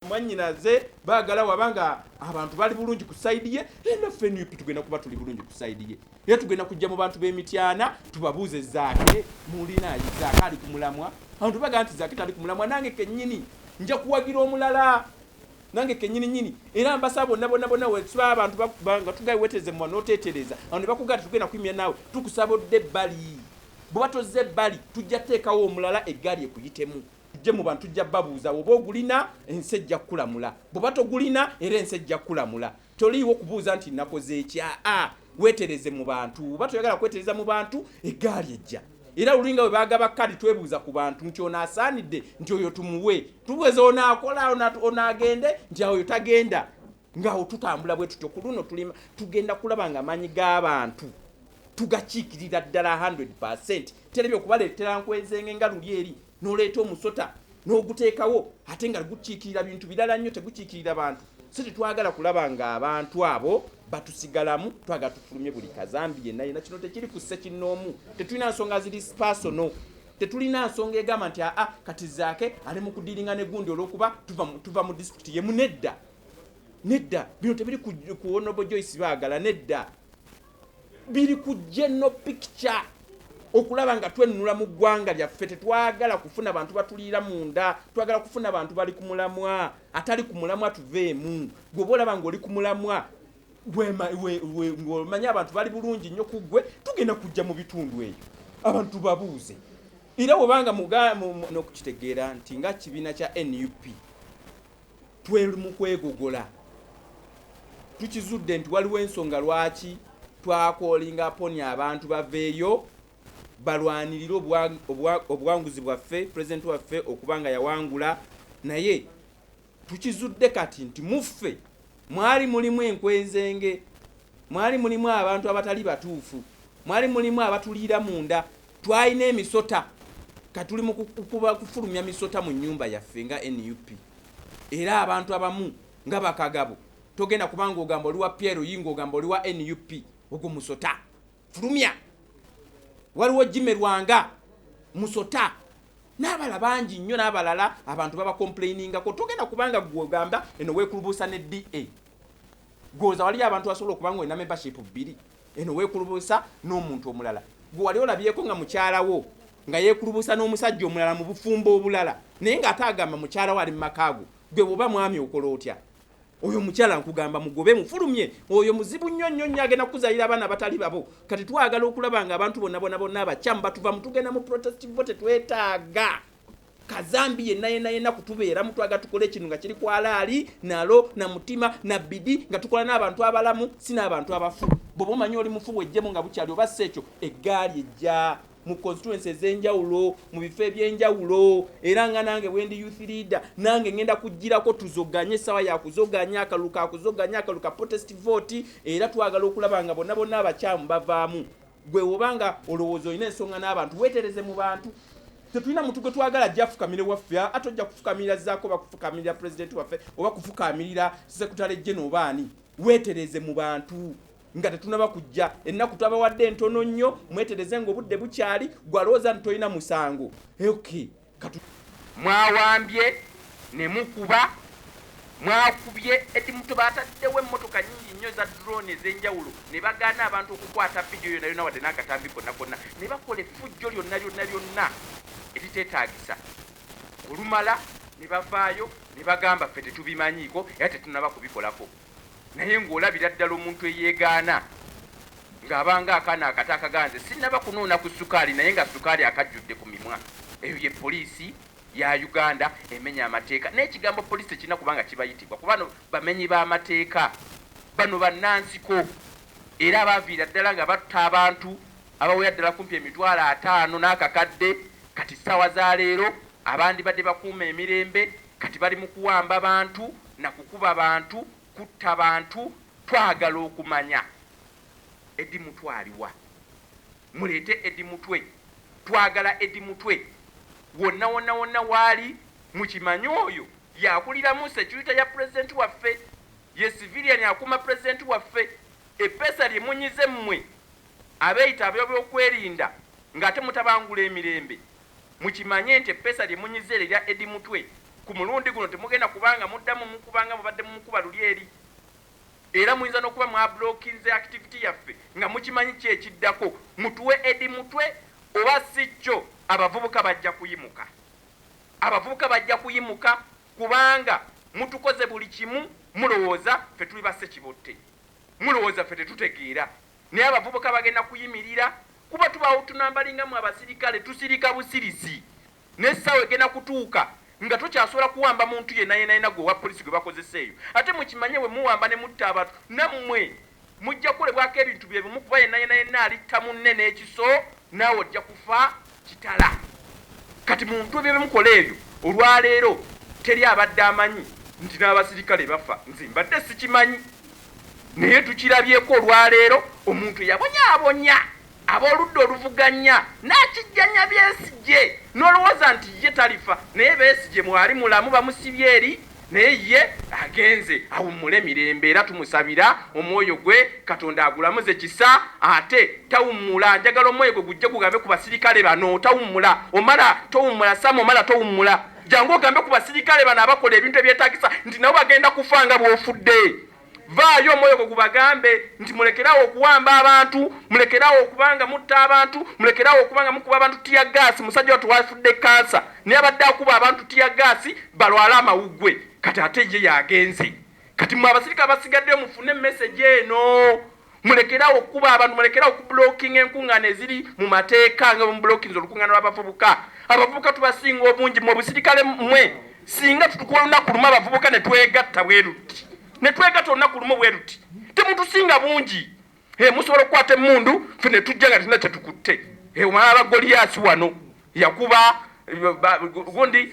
mwanyinaze bagala waba nga abantu bali bulungi ku saidi ye enaffe eh, nup tugenda kuba tuli bulungi ku saidi ye era tugenda kujja mu bantu b'emityana tubabuuze zaake mulinayi zaake ali ku mulamwa abantu bagala nti zaake tali ku mulamwa nange kennyini nja kuwagira omulala nange kenyini nyini era mbasaba bonna bonna bonna wetuba abantu nga tugaye weteze mwa notetereza awo ne bakugata tugenda kuimya naawe tukusaba odde ebbali bwebatoze ebbali tujja teekawo omulala eggaali ekuyitemu tujje mu bantu tujja babuuza oba ogulina ensi ejja kukulamula bweba togulina era ensi ejja kukulamula toliiwo kubuuza nti nakoze ekya a wetereze mu bantu oba toyagala kwetereza mu bantu egaali ejja era lulinga bwe bagaba kadi twebuuza ku bantu nti ono asaanidde nti oyo tumuwe tubweza onaakola onaagende nti aoyo tagenda ngaawo tutambula bwe tutyo ku luno tulima tugenda kulaba nga amaanyi g'abantu tugakiikirira ddala 100 percent terabye okubaleetera nkwezenge nga luli eri n'oleeta omusota n'oguteekawo ate nga gukiikirira bintu birala nnyo tegukiikirira bantu si tetwagala kulaba ng'abantu abo batusigalamu twagala tufulumye buli kazambi yenna yena kino tekiri ku ssekinnoomu tetulina nsonga ziri spasono tetulina nsonga egamba nti aa kati zaake ali mu kudiringa ne gundi olwokuba tuva mu disitulikiti ye munedda nedda bino tebiri ku honorable joyce baagala nedda biri ku general picture okulaba nga twennula mu ggwanga lyaffe tetwagala kufuna bantu batuliira munda twagala kufuna bantu bali ku mulamwa atali ku mulamwa tuveemu gweoba olaba ngaoli ku mulamwa ng'omanyi abantu bali bulungi nnyo ku ggwe tugenda kujja mu bitundu eyo abantu babuuze era webanga muganookukitegeera nti nga kibiina kya nup twel mu kwegogola tukizudde nti waliwo ensonga lwaki twakoolinga poni abantu baveeyo balwanirire obuwanguzi bwaffe pulezidenti waffe okuba nga yawangula naye tukizudde kati nti muffe mwali mulimu enkwenzenge mwali mulimu abantu abatali batuufu mwali mulimu abatuliira munda Twalina emisota katuli mu kufulumya misota mu nyumba yaffe nga nup era abantu abamu nga bakagabo togenda kubanga ogamba oliwa piero yinga ogamba oliwa nup ogwo musota fulumya waliwo jime lwanga musota n'abala bangi nnyo n'abalala abantu babakomplainingako togenda kubanga gwe ogamba eno weekulubuusa ne da gwoza waliyo abantu basobola okuba nga olina membership bbiri Eno weekulubuusa n'omuntu omulala gwe wali olabyeko nga mukyala wo nga yeekulubuusa n'omusajja omulala mu bufumbo obulala naye ng'ate agamba mukyala wo ali mu maka ago gwe bw'oba mwami okola otya? oyo omukyala nkugamba mugobe mufulumye oyo muzibu nnyo nnyo nnyo agenda kukuzalira abaana abatali babo kati twagala okulaba nga abantu bonna bona bonna abakyamu batuva mutugenda mu protest vote twetaaga kazambi yenna yenna yenna kutubeeramu twaga tukola ekintu nga kiri kwalaali nalo na mutima na bidi nga tukola n'abantu abalamu si n'abantu abafu bwoba omanyi oli mufu wejjemu nga bukyali oba si ekyo eggaali ejja mu constituency ez'enjawulo mu bifo eby'enjawulo era nga nange bwendi youth leader nange ngenda kugirako tuzoganye essaawa yakuzoganya akalulu kakuzoganya akalulu ka protest vote era twagala okulaba nga bonna bonna abakyamu bavaamu gwe woba nga olowooza olina ensonga n'abantu wetereze mu bantu tetulina muntu gwe twagala ajja afukamire waffe ate ojja kufukamirira zaako oba kufukamirira pulezidenti waffe oba kufukamirira sekutale jene oba ani wetereze mu bantu nga tetunaba kujja ennaku twabawadde entono nnyo mwetereze nga obudde bukyali gwalowooza nti tolina musango ok Mwawambye ne mukuba, mwakubye Eddy Mutwe. Baataddewo emmotoka nnyingi nnyo eza drone ez'enjawulo ne bagaana abantu okukwata vidiyo yonna yonna wadde n'akatambi konna konna ne bakola effujjo lyonna lyonna lyonna eriteetaagisa. Olumala ne bavaayo ne bagamba ffe tetubimanyiiko era tetunnaba kubikolako. Naye ng'olabira ddala omuntu eyeegaana ng'aba ng'akaana akato akaganze sinnaba kunuuna ku ssukaali naye nga ssukaali akajjudde ku mimwa. Eyo ye poliisi ya Uganda emenya amateeka. N'ekigambo poliisi tekirina kuba nga kibayitibwa kuba bano bamenyi ba mateeka. Bano bannansiko era abaaviira ddala nga batta abantu abawera ddala kumpi emitwalo ataano n'akakadde kati ssaawa za leero abandibadde bakuuma emirembe kati bali mu kuwamba bantu na kukuba bantu, kutta bantu, twagala okumanya Eddy Mutwe aliwa? Muleete Eddy Mutwe, twagala Eddy Mutwe wonna wonna wonna waali, mukimanye oyo yakuliramu security ya president waffe, ye civilian akuuma president waffe, eppeesa lye munyize mmwe abeyita abebyokwerinda nga ate mutabangula emirembe, Mukimanye nti eppeesa lye munyizza eryo erya Eddie Mutwe, ku mulundi guno temugenda kuba nga muddamu mukuba nga mubadde mumukuba luli eri. Era muyinza n'okuba mwablockinze activity yaffe nga mukimanyi ki ekiddako, mutuwe Eddie Mutwe oba si kyo abavubuka bajja kuyimuka. Abavubuka bajja kuyimuka kubanga mutukoze buli kimu, mulowooza ffe tuli ba ssekibotte? Mulowooza ffe tetutegeera? Naye abavubuka bagenda kuyimirira Kuba tubaawo tunambali nga mwe abasirikale tusirika busirisi naye essaawa egenda kutuuka nga tokyasobola kuwamba muntu yenna yenna yenna gwe owa poliisi gwe bakozesa eyo. Ate mukimanye bwe muwamba ne mutta abantu nammwe mujja kukolebwako ebintu bye bimu kuba yenna yenna yenna alitta munne n'ekiso naawe ojja kufa kitala. Kati muntu ebyo bye mukola ebyo olwaleero teri abadde amanyi nti n'abasirikale bafa? Nze mbadde sikimanyi. Naye tukirabyeko olwaleero omuntu eyabonyaabonya ab'oludda oluvuganya n'akijjanya Besigye n'olowooza nti ye talifa naye Besigye mwali mulamu bamusibye eri naye ye agenze awummule mirembe era tumusabira omwoyo gwe Katonda agulamuze kisa ate tawummula njagala omwoyo gwe gujje gugambe ku basirikale bano tawummula Omara towummula Sam Omara towummula Jangu ogambe ku basirikale bano abakola ebintu ebyetagisa nti nabo bagenda kufa nga bwofudde. Vaayo omwoyo gwo gubagambe nti mulekerawo okuwamba abantu, mulekerawo okuba nga mutta abantu, mulekerawo okuba nga mukuba abantu tiyagaasi. Musajja wattu wafudde kkansa naye abadde akuba abantu tiyagaasi balwale amawuggwe kati ate ye y'agenze. Kati mmwe abasirikale abasigaddeyo mufune mesegi eno. Mulekerawo okukuba abantu, mulekerawo okublockinga enkungaana eziri mu mateeka nga bwemublockinze olukungaana lw'abavubuka. Abavubuka tubasinga obungi mu obusirikale mwe. Singa tutukuwa olunaku lumu abavubuka ne twegatta bwe luti, ne twegatta olunaku lumu bwe luti, temutusinga bungi. Hee, musobola okukwata emmundu, ffe ne tujja nga tetulina kye tukutte. Hee, omalala Goliyaasi wano. yakuba gundi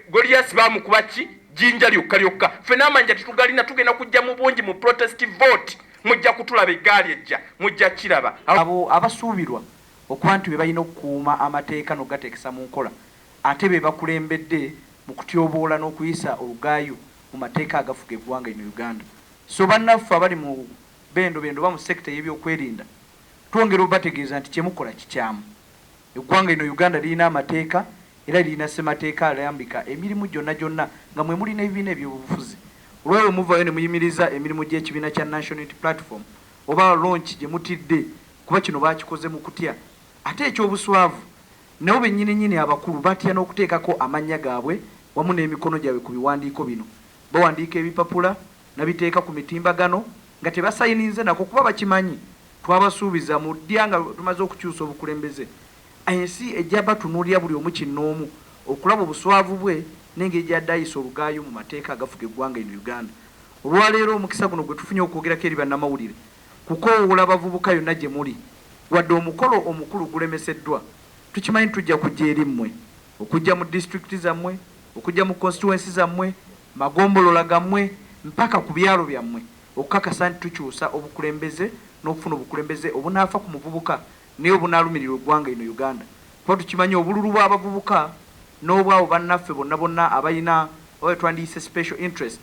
Goliath bamukuba ki jinja lyokka lyokka ffe n'amanja tetugalina tugenda kujja mu bungi mu protest vote mujja kutulaba eggaali ejja mujja kiraba abo abasuubirwa okuba nti be balina okukuuma amateeka n'okugateekesa mu nkola ate be bakulembedde mu kutyoboola n'okuyisa olugaayu mu mateeka agafuga eggwanga lino Uganda so bannaffe abali mu bendobendo oba mu sector ey'ebyokwerinda twongera obategeeza nti kye mukola kikyamu. Eggwanga lino Uganda lirina amateeka era lirina ssemateeka alambika emirimu gyonna gyonna nga mwe muli n'ebibiina eby'obufuzi. Olw'oyo muvaayo ne muyimiriza emirimu gy'ekibiina kya National Unity Platform oba launch gye mutidde kuba kino baakikoze mu kutya. Ate eky'obuswavu nabo bennyininnyini abakulu batya n'okuteekako amannya gaabwe wamu n'emikono gyabwe ku biwandiiko bino. Bawandiika ebipapula nabiteeka ku mitimbagano nga tebasayininze nako kuba bakimanyi twabasuubiza mu ddya nga tumaze okukyusa obukulembeze ensi ejja batunuulira buli omu kinnoomu okulaba obuswavu bwe n'engeri gy'adde ayisa olugaayu mu mateeka agafuga eggwanga eno Uganda. Olwaleero omukisa guno gwe tufunye okwogerako eri bannamawulire kukoowoola bavubuka yonna gye muli wadde omukolo omukulu gulemeseddwa tukimanyi tujja kujja eri mmwe. Okujja mu disitulikiti zammwe, okujja mu constituency zammwe, magombolola gammwe mpaka ku byalo byammwe okukakasa nti tukyusa obukulembeze n'okufuna obukulembeze obunaafa ku muvubuka naye obunaalumirirwa eggwanga eno Uganda kuba tukimanyi obululu bw'abavubuka n'obw'abo bannaffe bonna bonna abalina oba be twandiyise special interest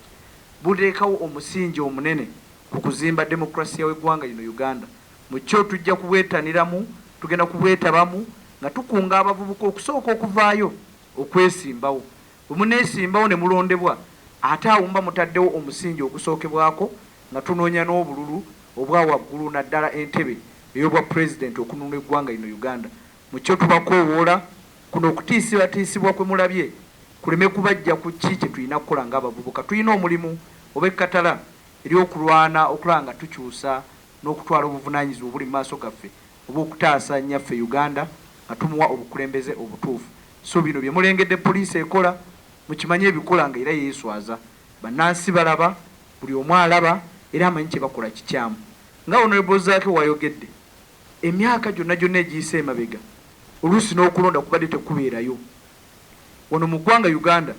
buteekawo omusingi omunene ku kuzimba demokulasiya w'eggwanga lino Uganda. Mu kyo tujja kubwetaniramu, tugenda kubwetabamu nga tukunga abavubuka okusooka okuvaayo okwesimbawo. Bwe muneesimbawo ne mulondebwa, ate awo muba mutaddewo omusingi ogusookebwako nga tunoonya n'obululu obwa waggulu naddala entebe ey'Obwapulezidenti okununula eggwanga lino Uganda. Mu kyo tubakoowoola, kuno okutiisibatiisibwa kwe mulabye kuleme kubaggya ku ki kye tulina kukola ng'abavubuka. Tulina omulimu ob'ekkatala ery'okulwana okulaba nga tukyusa n'okutwala obuvunaanyizibwa obuli mu maaso gaffe obw'okutaasa Nnyaffe Uganda nga tumuwa obukulembeze obutuufu. So bino bye mulengedde poliisi ekola, mukimanye ebikola nga era yeeswaza. Bannansi balaba, buli omu alaba era amanyi kye bakola kikyamu. Nga Honourable Zaake w'ayogedde, emyaka gyonna gyonna egiyise emabega, oluusi n'okulonda kubadde tekubeerayo. Wano mu ggwanga Uganda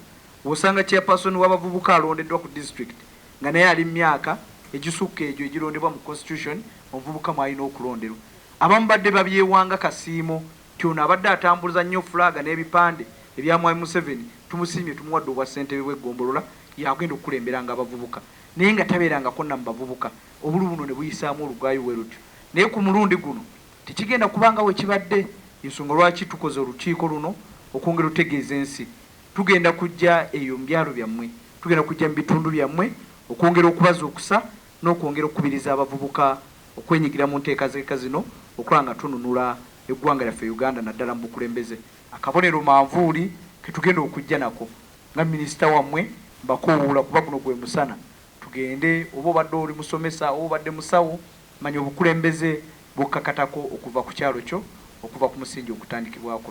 w'osanga Chairperson w'abavubuka alondeddwa ku District nga naye ali mu myaka egisukka egyo egirondebwa mu Constitution omuvubuka mw'alina okulonderwa. Abamu badde babyewa nga Kasiimo nti ono abadde atambuza nnyo Flag n'ebipande ebya Mwami Museveni, tumusiimye tumuwadde obwa Ssentebe bw'eggombolola y'agenda okukulemberanga abavubuka naye nga tabeerangako na mu bavubuka obululu buno ne buyisaamu olugaayu welutyo naye ku mulundi guno Tekigenda kuba nga wekibadde yensonga lwaki tukoze olukiiko luno okwongera otegeeza ensi. Tugenda kujja eyo mubyalo byammwe, tugenda kujja mubitundu byammwe okwongera okubazuukusa nokwongera okukubiriza abavubuka okwenyigira munteekazeeka zino okulaba nga tununula eggwanga lyaffe Uganda naddala mubukulembeze. Akabonero manvuuli ketugenda okujja nako nga minisita wammwe mbakowoola kuba guno gwemusana tugende oba obadde oli musomesa oba obadde musawo, Manya obukulembeze bw'okkakatako okuva ku kyalo kyo, okuva ku musingi ogutandikibwako.